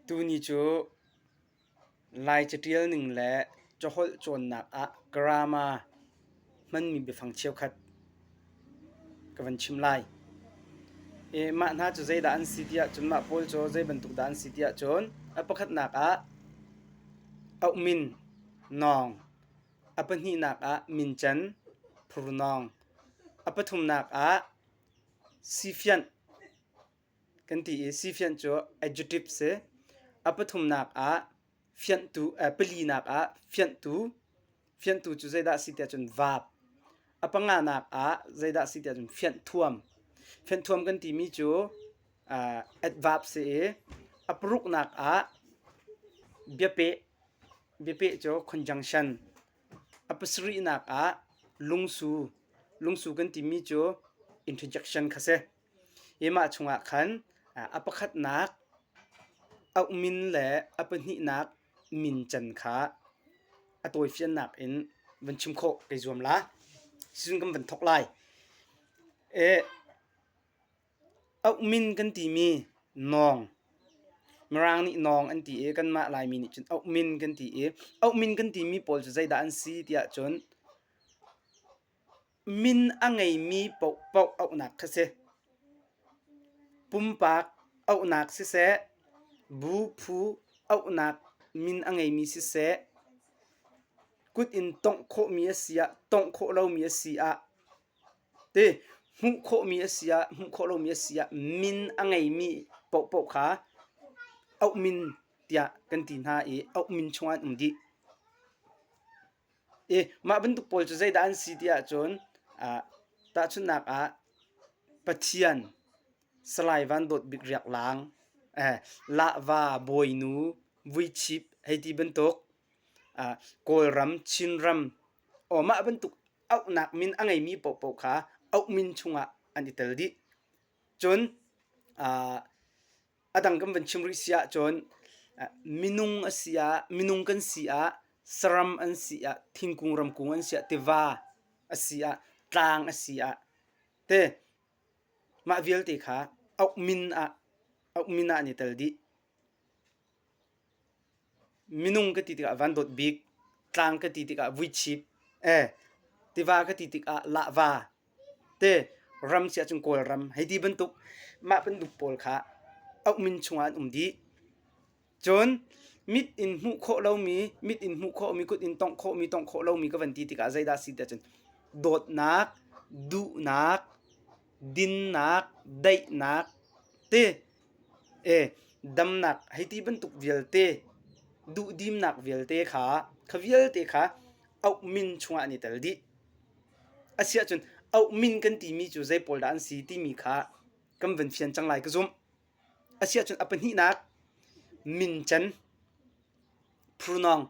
Tuni cu Lai caṭial ning le caholh cawnnak ah grammar hmanmi biafang cheukhat ka van chim lai. I mah hna cu zeidah an si ti ahcun mah pawl cu zei bantuk dah an si ti ahcun a pakhatnak ah auhmin nawng, a pahnihnak ah mincan phurnawng, a pathumnak ah sifianh. kan ti i sifianh cu adjective si. A pathumnak ah fianhtu palinak ah fianhtu fianhtu cu zeidah si tiah cun verb a panganak ah zeidah si tiah cun fianh thuam fianh thuam kan timi cu uh, adverb si i a paruknak ah biapeh biapeh cu conjunction a pasarihnak ah lungsu lungsu kan timi cu interjection kha si i mah chungah khan a pakhatnak a min le a pahnihnak min can kha a tawifiannak in van chim khawh kei zuam la sizun kan van thok lai e min kan timi nong mirang nih nong an ti i kanmah laimi nih cun min kan ti i min kan timi pawl cu zeidah an si tiah cun Min a ngeimi paohpaoh auhnak kha si. Pumpak auhnak siseh, bu phu auhnak min a ngeimi siseh, kut in tongh khawhmi a si ah tongh khawh lomi a si ah, ti hmuh khawhmi a si ah hmuh khawh lomi a si ah min a ngeimi paohpaoh kha auh min tiah kan ti hna i auh min chungah an um dih. i mah bantuk pawl cu zeidah an si ti ahcun tahchunhnak ah pathian salai van dawt bik riak laang lahva bawinu vuichip hei ti bantuk kawlram chinram aw mah bantuk auhnak min a ngeimi paohpaoh kha auh min chungah an i tel dih cun adang kan van chim rih si ahcun minung a si ah minung kan si ah saram an si ah thingkung ramkung an si ah tiva a si ah tlang a si ah te mah vialte kha uk min ah uk min ah an i tel dih minung ka ti tikah van dawt bik, tlang ka ti tikah vuichip, eh, tiva ka ti tikah lahva, te ram si ahcun Kawlram hei ti bantuk mah bantuk pawl kha auhmin chungah an um dih. Cun mit in hmuh khawh lomi, mit in hmuh khawhmi, kut in tongh khawhmi, tongh khawh lomi ka van ti tikah zeidah a si ti ahcun dawtnak, duhnak, dinnak, daihnak, te E damnak hei ti bantuk vialte duhdimnak vialte kha kha vialte kha auh min chungah an i tel dih. Asiahcun auh min kan timi cu zei pawl dah an si timi kha kan van fian cang lai ka zumh. Asiahcun a pahnihnak mincan phurnawng.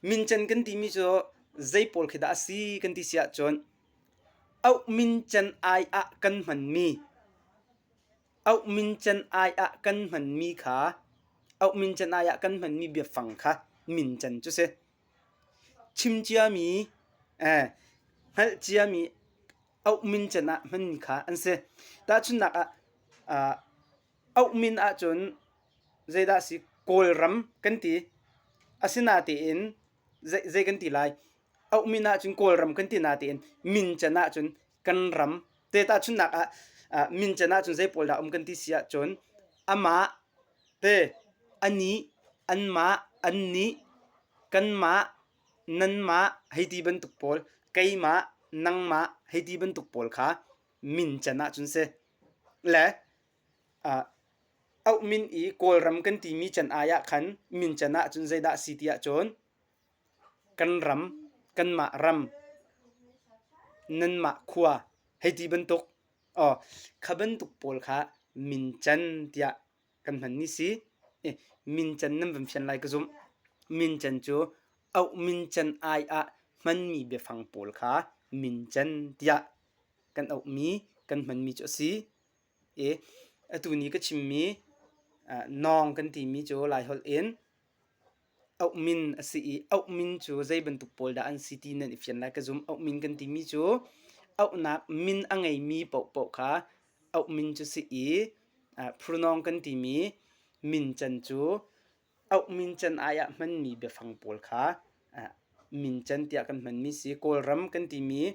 Mincan kan timi cu zei pawl khi dah a si kan ti si ahcun auh mincan ai ah kan hmanmi Auh min can ai ah kan hmanmi kha auh min can ai ah kan hmanmi biafang kha min can cu si. Chim ciami, eh, hngalh ciami auh min can ah hmanmi kha an si. Tahchunnak ah, ah auh min ahcun zeidah si Kawlram kan ti. Asinatein zei, zei kan ti lai? Auh min ahcun Kawlram kan ti natein min can ahcun kan ram te ta chun nak ah min chen ah cun zei pawl dah um kan ti si ah cun ama te ani an ma an ni kan ma nan ma heiti bantuk pawl keima nangma heiti bantuk pawl kha min chen ah cun se le au min i kawlram kan ti mi can ai ah khan min chen ah cun zeidah si ti ah cun Kan ram, kanmah ram, nanmah khua hei ti bantuk aw kha bantuk pawl kha mincan tiah kan hmanmi si. Mincan nan van fian lai ka zumh. Mincan cu auh mincan ai ah hmanmi biafang pawl kha mincan tiah kan auhmi, kan hmanmi cu a si. Atu ni ka chimmi nawng kan timi cu Laiholh in Auh min a si i auh min cu zei bantuk pawl dah an si ti nan i fian lai ka zum. Auh min kan timi cu auhnak min a ngeimi paohpaoh kha auh min cu si i uh, phurnawng kan timi min can cu auh min can ai ah hmanmi biafang pawl kha mincan tiah kan hmanmi si. Kawlram kan timi,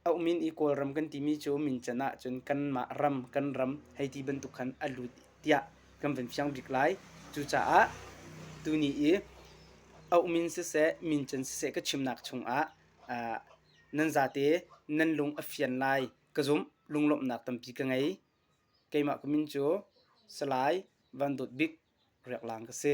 Auhmin i Kawlram kan timi cu mincan ahcun kanmah ram, kan ram hei ti bantuk khan a lut tiah kan van fiang bik lai. Cucaah tuni i auhmin siseh, mincan siseh ka chimnak chungah nan zate nan lung a fian lai ka zumh. Lunglawmhnak tampi ka ngei. Keimah ka min cu Salai Van Dawt Bik Riak Lang ka si.